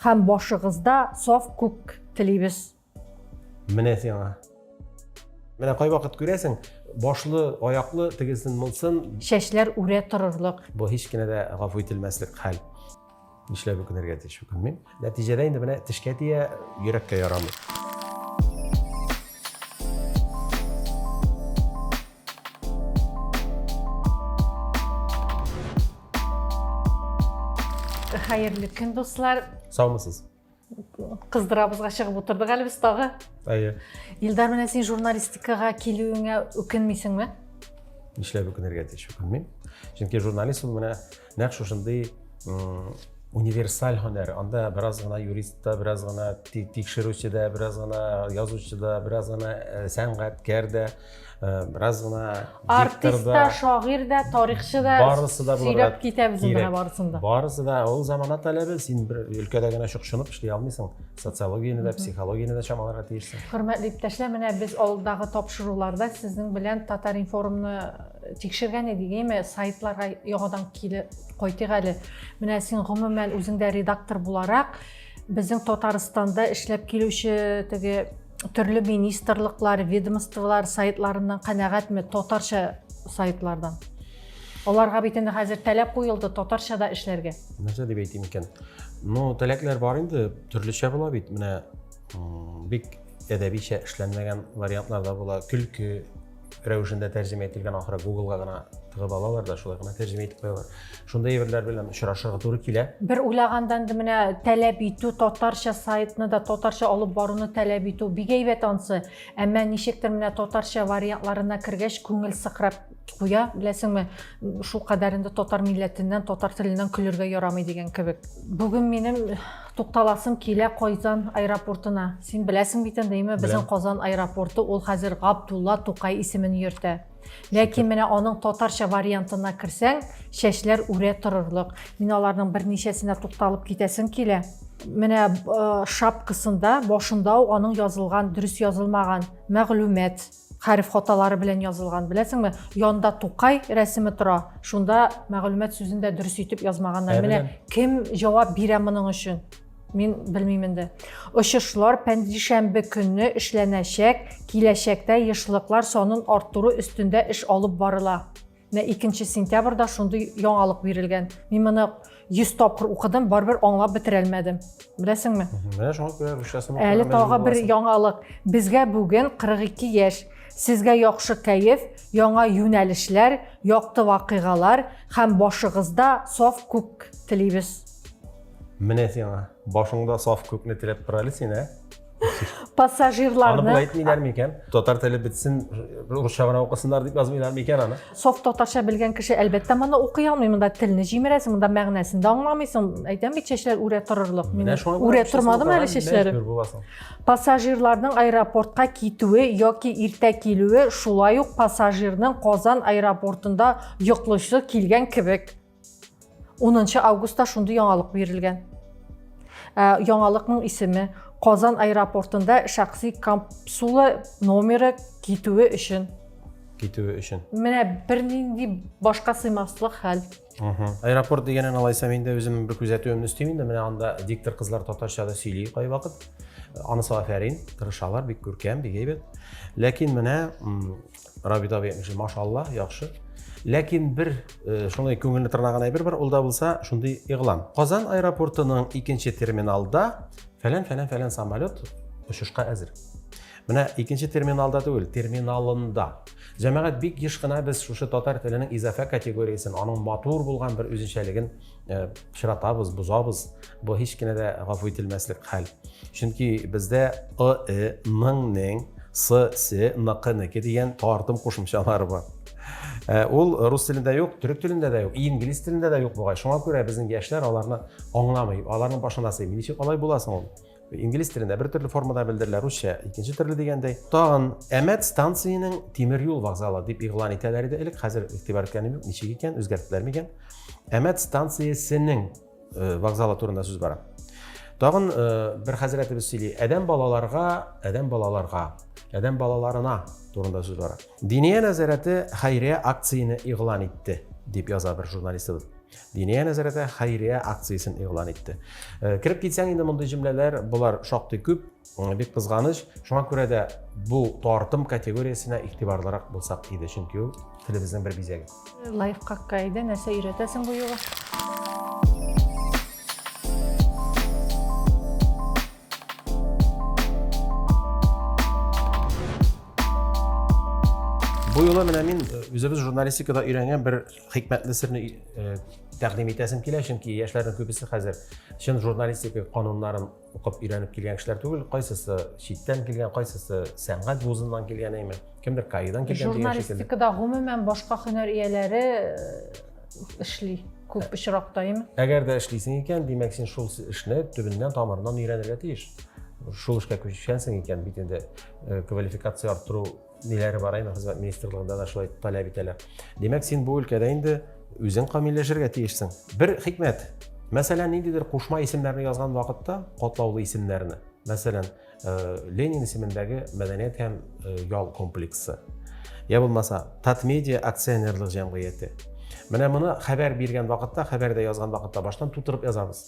Һәм башыгызда саф күк телибез. Менә сиңа. Менә кайвакыт күрәсең, башлы, аяклы, тегесен, мылсын. Чәчләр үрә торырлык. Бу һич кенә дә гафу ителмәслек хәл. Нишләп үкенергә тиеш үкенмим. Нәтиҗәдә инде менә тешкә тия, йөрәккә ярамый. Хәерле көн, дуслар. Саумысыз? Кыздырабызга чыгып утырдык әле без тагы. Әйе. Илдар, менә син журналистикага килүеңә үкенмисеңме? Нишләп үкенергә тиеш, үкенмим. Чөнки журналист ул менә Нәкъ шушындый универсаль һөнәр. Анда бераз гына юристта, бераз гына тикшерүчедә, бераз гына язучыда, бераз гына э, сәнгатькәр дә, э, бераз гына артистта, шагыйрь дә, тарихчы да барысы да сөйләп китәбез инде барысын да. Барысы да ул замана таләбе, син бер өлкәдә генә чукчынып эшли алмыйсың. Социологияне дә, психологияне дә чамаларга тиешсең. Хөрмәтле иптәшләр, менә без алдагы тапшыруларда сезнең белән Татар информны Тикшергән идек, әйме, сайтларга яңадан килеп кайтыйк әле. Менә син гомумән үзең дә редактор буларак, безнең Татарстанда эшләп килүче теге төрле министрлыклар, ведомстволар сайтларыннан канәгатьме татарча сайтлардан? Аларга бит инде хәзер таләп куелды татарча да эшләргә. Нәрсә дип әйтим икән? Ну, таләпләр бар инде, төрлечә була бит. Менә бик әдәбичә эшләнмәгән вариантлар да була. Көлке рәвешендә тәрҗемә ителгән ахыры гуглга гына тыгып алалар да шулай гына тәрҗемә итеп куялар шундай әйберләр белән очрашырга туры килә бер уйлаганда инде менә таләп итү татарча сайтны да татарча алып баруны таләп итү бик әйбәт ансы әмма ничектер менә татарча вариантларына кергәч күңел сыкрап куя беләсеңме шул кадәр инде татар милләтеннән татар теленнән көлергә ярамый дигән кебек бүген минем Тукталасым килә Кайзан аэропортына. Син беләсең бит инде, әйме, безнең Казан аэропорты ул хәзер Габдулла Тукай исемен йөртә. Ләкин менә аның татарча вариантына керсәң, чәчләр үрә торырлык. Мин аларның берничәсенә тукталып китәсем килә. Менә э, шапкасында, башында ук аның язылган, дөрес язылмаган мәгълүмат. Хәреф хаталары белән язылган. Беләсеңме, янда Тукай рәсеме тора, шунда мәгълүмат сүзен дә дөрес итеп язмаганнар. Ә, Менә кем җавап бирә моның өчен? Мин белмим инде. Очышлар пәнҗешәмбе көнне эшләнәчәк, киләчәктә ешлыклар санын арттыру өстендә эш алып барыла. Менә 2 сентябрьдә шундый яңалык бирелгән. Мин моны 100 тапкыр укыдым, барыбер аңлап бетерә алмадым. Беләсеңме? Менә шуңа күрә русчасын укырга Әле тагы бер яңалык. Безгә бүген 42 яшь. Сезгә яхшы кәеф, яңа юнәлешләр, якты вакыйгалар һәм башыгызда саф күк телибез. Менә сиңа. Башыңда саф күкне теләп тора әле сине. пассажирларны аны әйтмиләр микән татар теле бетсен русча гына укысыннар дип язмыйлар микән аны соф татарча белгән кеше әлбәттә моны укый алмый монда телне җимерәсең монда мәгънәсен дә аңламыйсың әйтәм бит чәчләр үрә торырлык мин үрә тормадым әле чәчләре пассажирларның аэропортка китүе яки иртә килүе шулай ук пассажирның казан аэропортында йоклыйсы килгән кебек 10 августта шундый яңалык бирелгән. Ә, яңалыкның исеме Казан аэропортында шәхси капсула номеры китүе өчен. Китүе өчен. Менә бернинди башка сыймаслык хәл. Аэропорт дигәнен алайса мин дә үземнең бер күзәтүемне өстим инде. Менә анда диктор кызлар татарча да сөйли кайвакыт. Анысы афәрин, тырышалар, бик күркәм, бик әйбәт. Ләкин менә Рабит абый әйтмешли, машалла, яхшы. Ләкин бер э, шуны күңелне тырнаган әйбер бар, ул да булса шундый игълан. Казан аэропортының икенче терминалда фәлән фәлән фәлән самолет очышка әзер. Менә икенче терминалда түгел, терминалында. Җәмәгать бик еш кына без шушы татар теленең изафә категориясен, аның матур булган бер үзенчәлеген э, пычратабыз, бозабыз. Бу һич кенә дә гафу ителмәслек хәл. Чөнки бездә ы, э, ның, нең, сы, се, ныкы, неке дигән тартым кушымчалары бар. Э, ул рус телендә юк, төрек телендә дә юк, инглиз телендә дә юк бугай. Шуңа күрә безнең яшьләр аларны аңламый, аларның башына сыймый. Ничек алай буласың ул? Инглиз телендә бер төрле формада белдерелә, русча икенче төрле дигәндәй. Тагын Әмәт станциясенең тимер юл вокзалы дип игълан итәләр иде элек, хәзер игътибар иткәнем юк, ничек икән, үзгәрттеләрме икән? Әмәт станциясенең э, вокзалы турында сүз бара. Тагын э, бер хәзрәтебез сөйли, адәм балаларга, адәм балаларга, адәм балаларына турында сүз бара. Диния нәзарәте хәйрия акцияне игълан итте, дип яза бер журналистыбыз. Диния нәзарәте хәйрия акциясен игълан итте. Э, кереп китсәң инде мондый җөмләләр, болар шактый күп, э, бик кызганыч. Шуңа күрә дә бу тартым категориясенә игътибарлырак булсак иде, чөнки ул телебезнең бер бизәге. Лайфхакка иде, нәрсә өйрәтәсең бу юлы? Бу юлы менә мин э, үзебез журналистикада өйрәнгән бер хикмәтле серне э, тәкъдим итәсем килә, чөнки яшьләрнең күбесе хәзер чын журналистика кануннарын укып өйрәнеп килгән кешеләр түгел, кайсысы читтән килгән, кайсысы сәнгать вузыннан килгән, әйме, кемдер каидан килгән дигән шикелле. Журналистикада гомумән башка һөнәр ияләре э, эшли күп э, очракта, әйме? Әгәр дә эшлисең икән, димәк, син шул эшне төбеннән тамырыннан өйрәнергә тиеш. Шул эшкә күчкәнсең икән, бит инде квалификация арттыру ниләре бар инде хезмәт министрлыгында да шулай таләп итәләр димәк син бу өлкәдә инде үзең камилләшергә тиешсең бер хикмәт мәсәлән ниндидер кушма исемнәрне язган вакытта катлаулы исемнәрне мәсәлән э, ленин исемендәге мәдәният һәм э, ял комплексы я булмаса татмедиа акционерлык җәмгыяте менә моны хәбәр биргән вакытта хәбәрдә язган вакытта баштан тутырып язабыз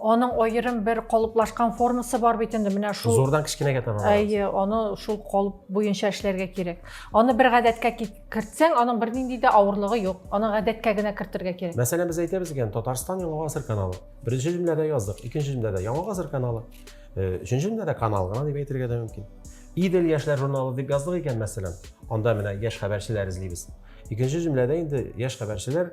Аның аерым бер калыплашкан формасы бар бит инде менә шул. Зурдан кечкенәгә таба. Әйе, аны шул калып буенча эшләргә кирәк. Аны бер гадәткә кертсәң, аның бернинди дә авырлыгы юк. Аны гадәткә генә кертергә кирәк. Мәсәлән, без әйтәбез икән, Татарстан Яңа гасыр каналы. Беренче җөмләдә яздык, икенче җөмләдә Яңа гасыр каналы. Э, өченче җөмләдә канал гына дип әйтергә дә мөмкин. Идел яшьләр журналы дип яздык икән, мәсәлән, анда менә яшь хәбәрчеләр эзлибез. Икенче җөмләдә инде яшь хәбәрчеләр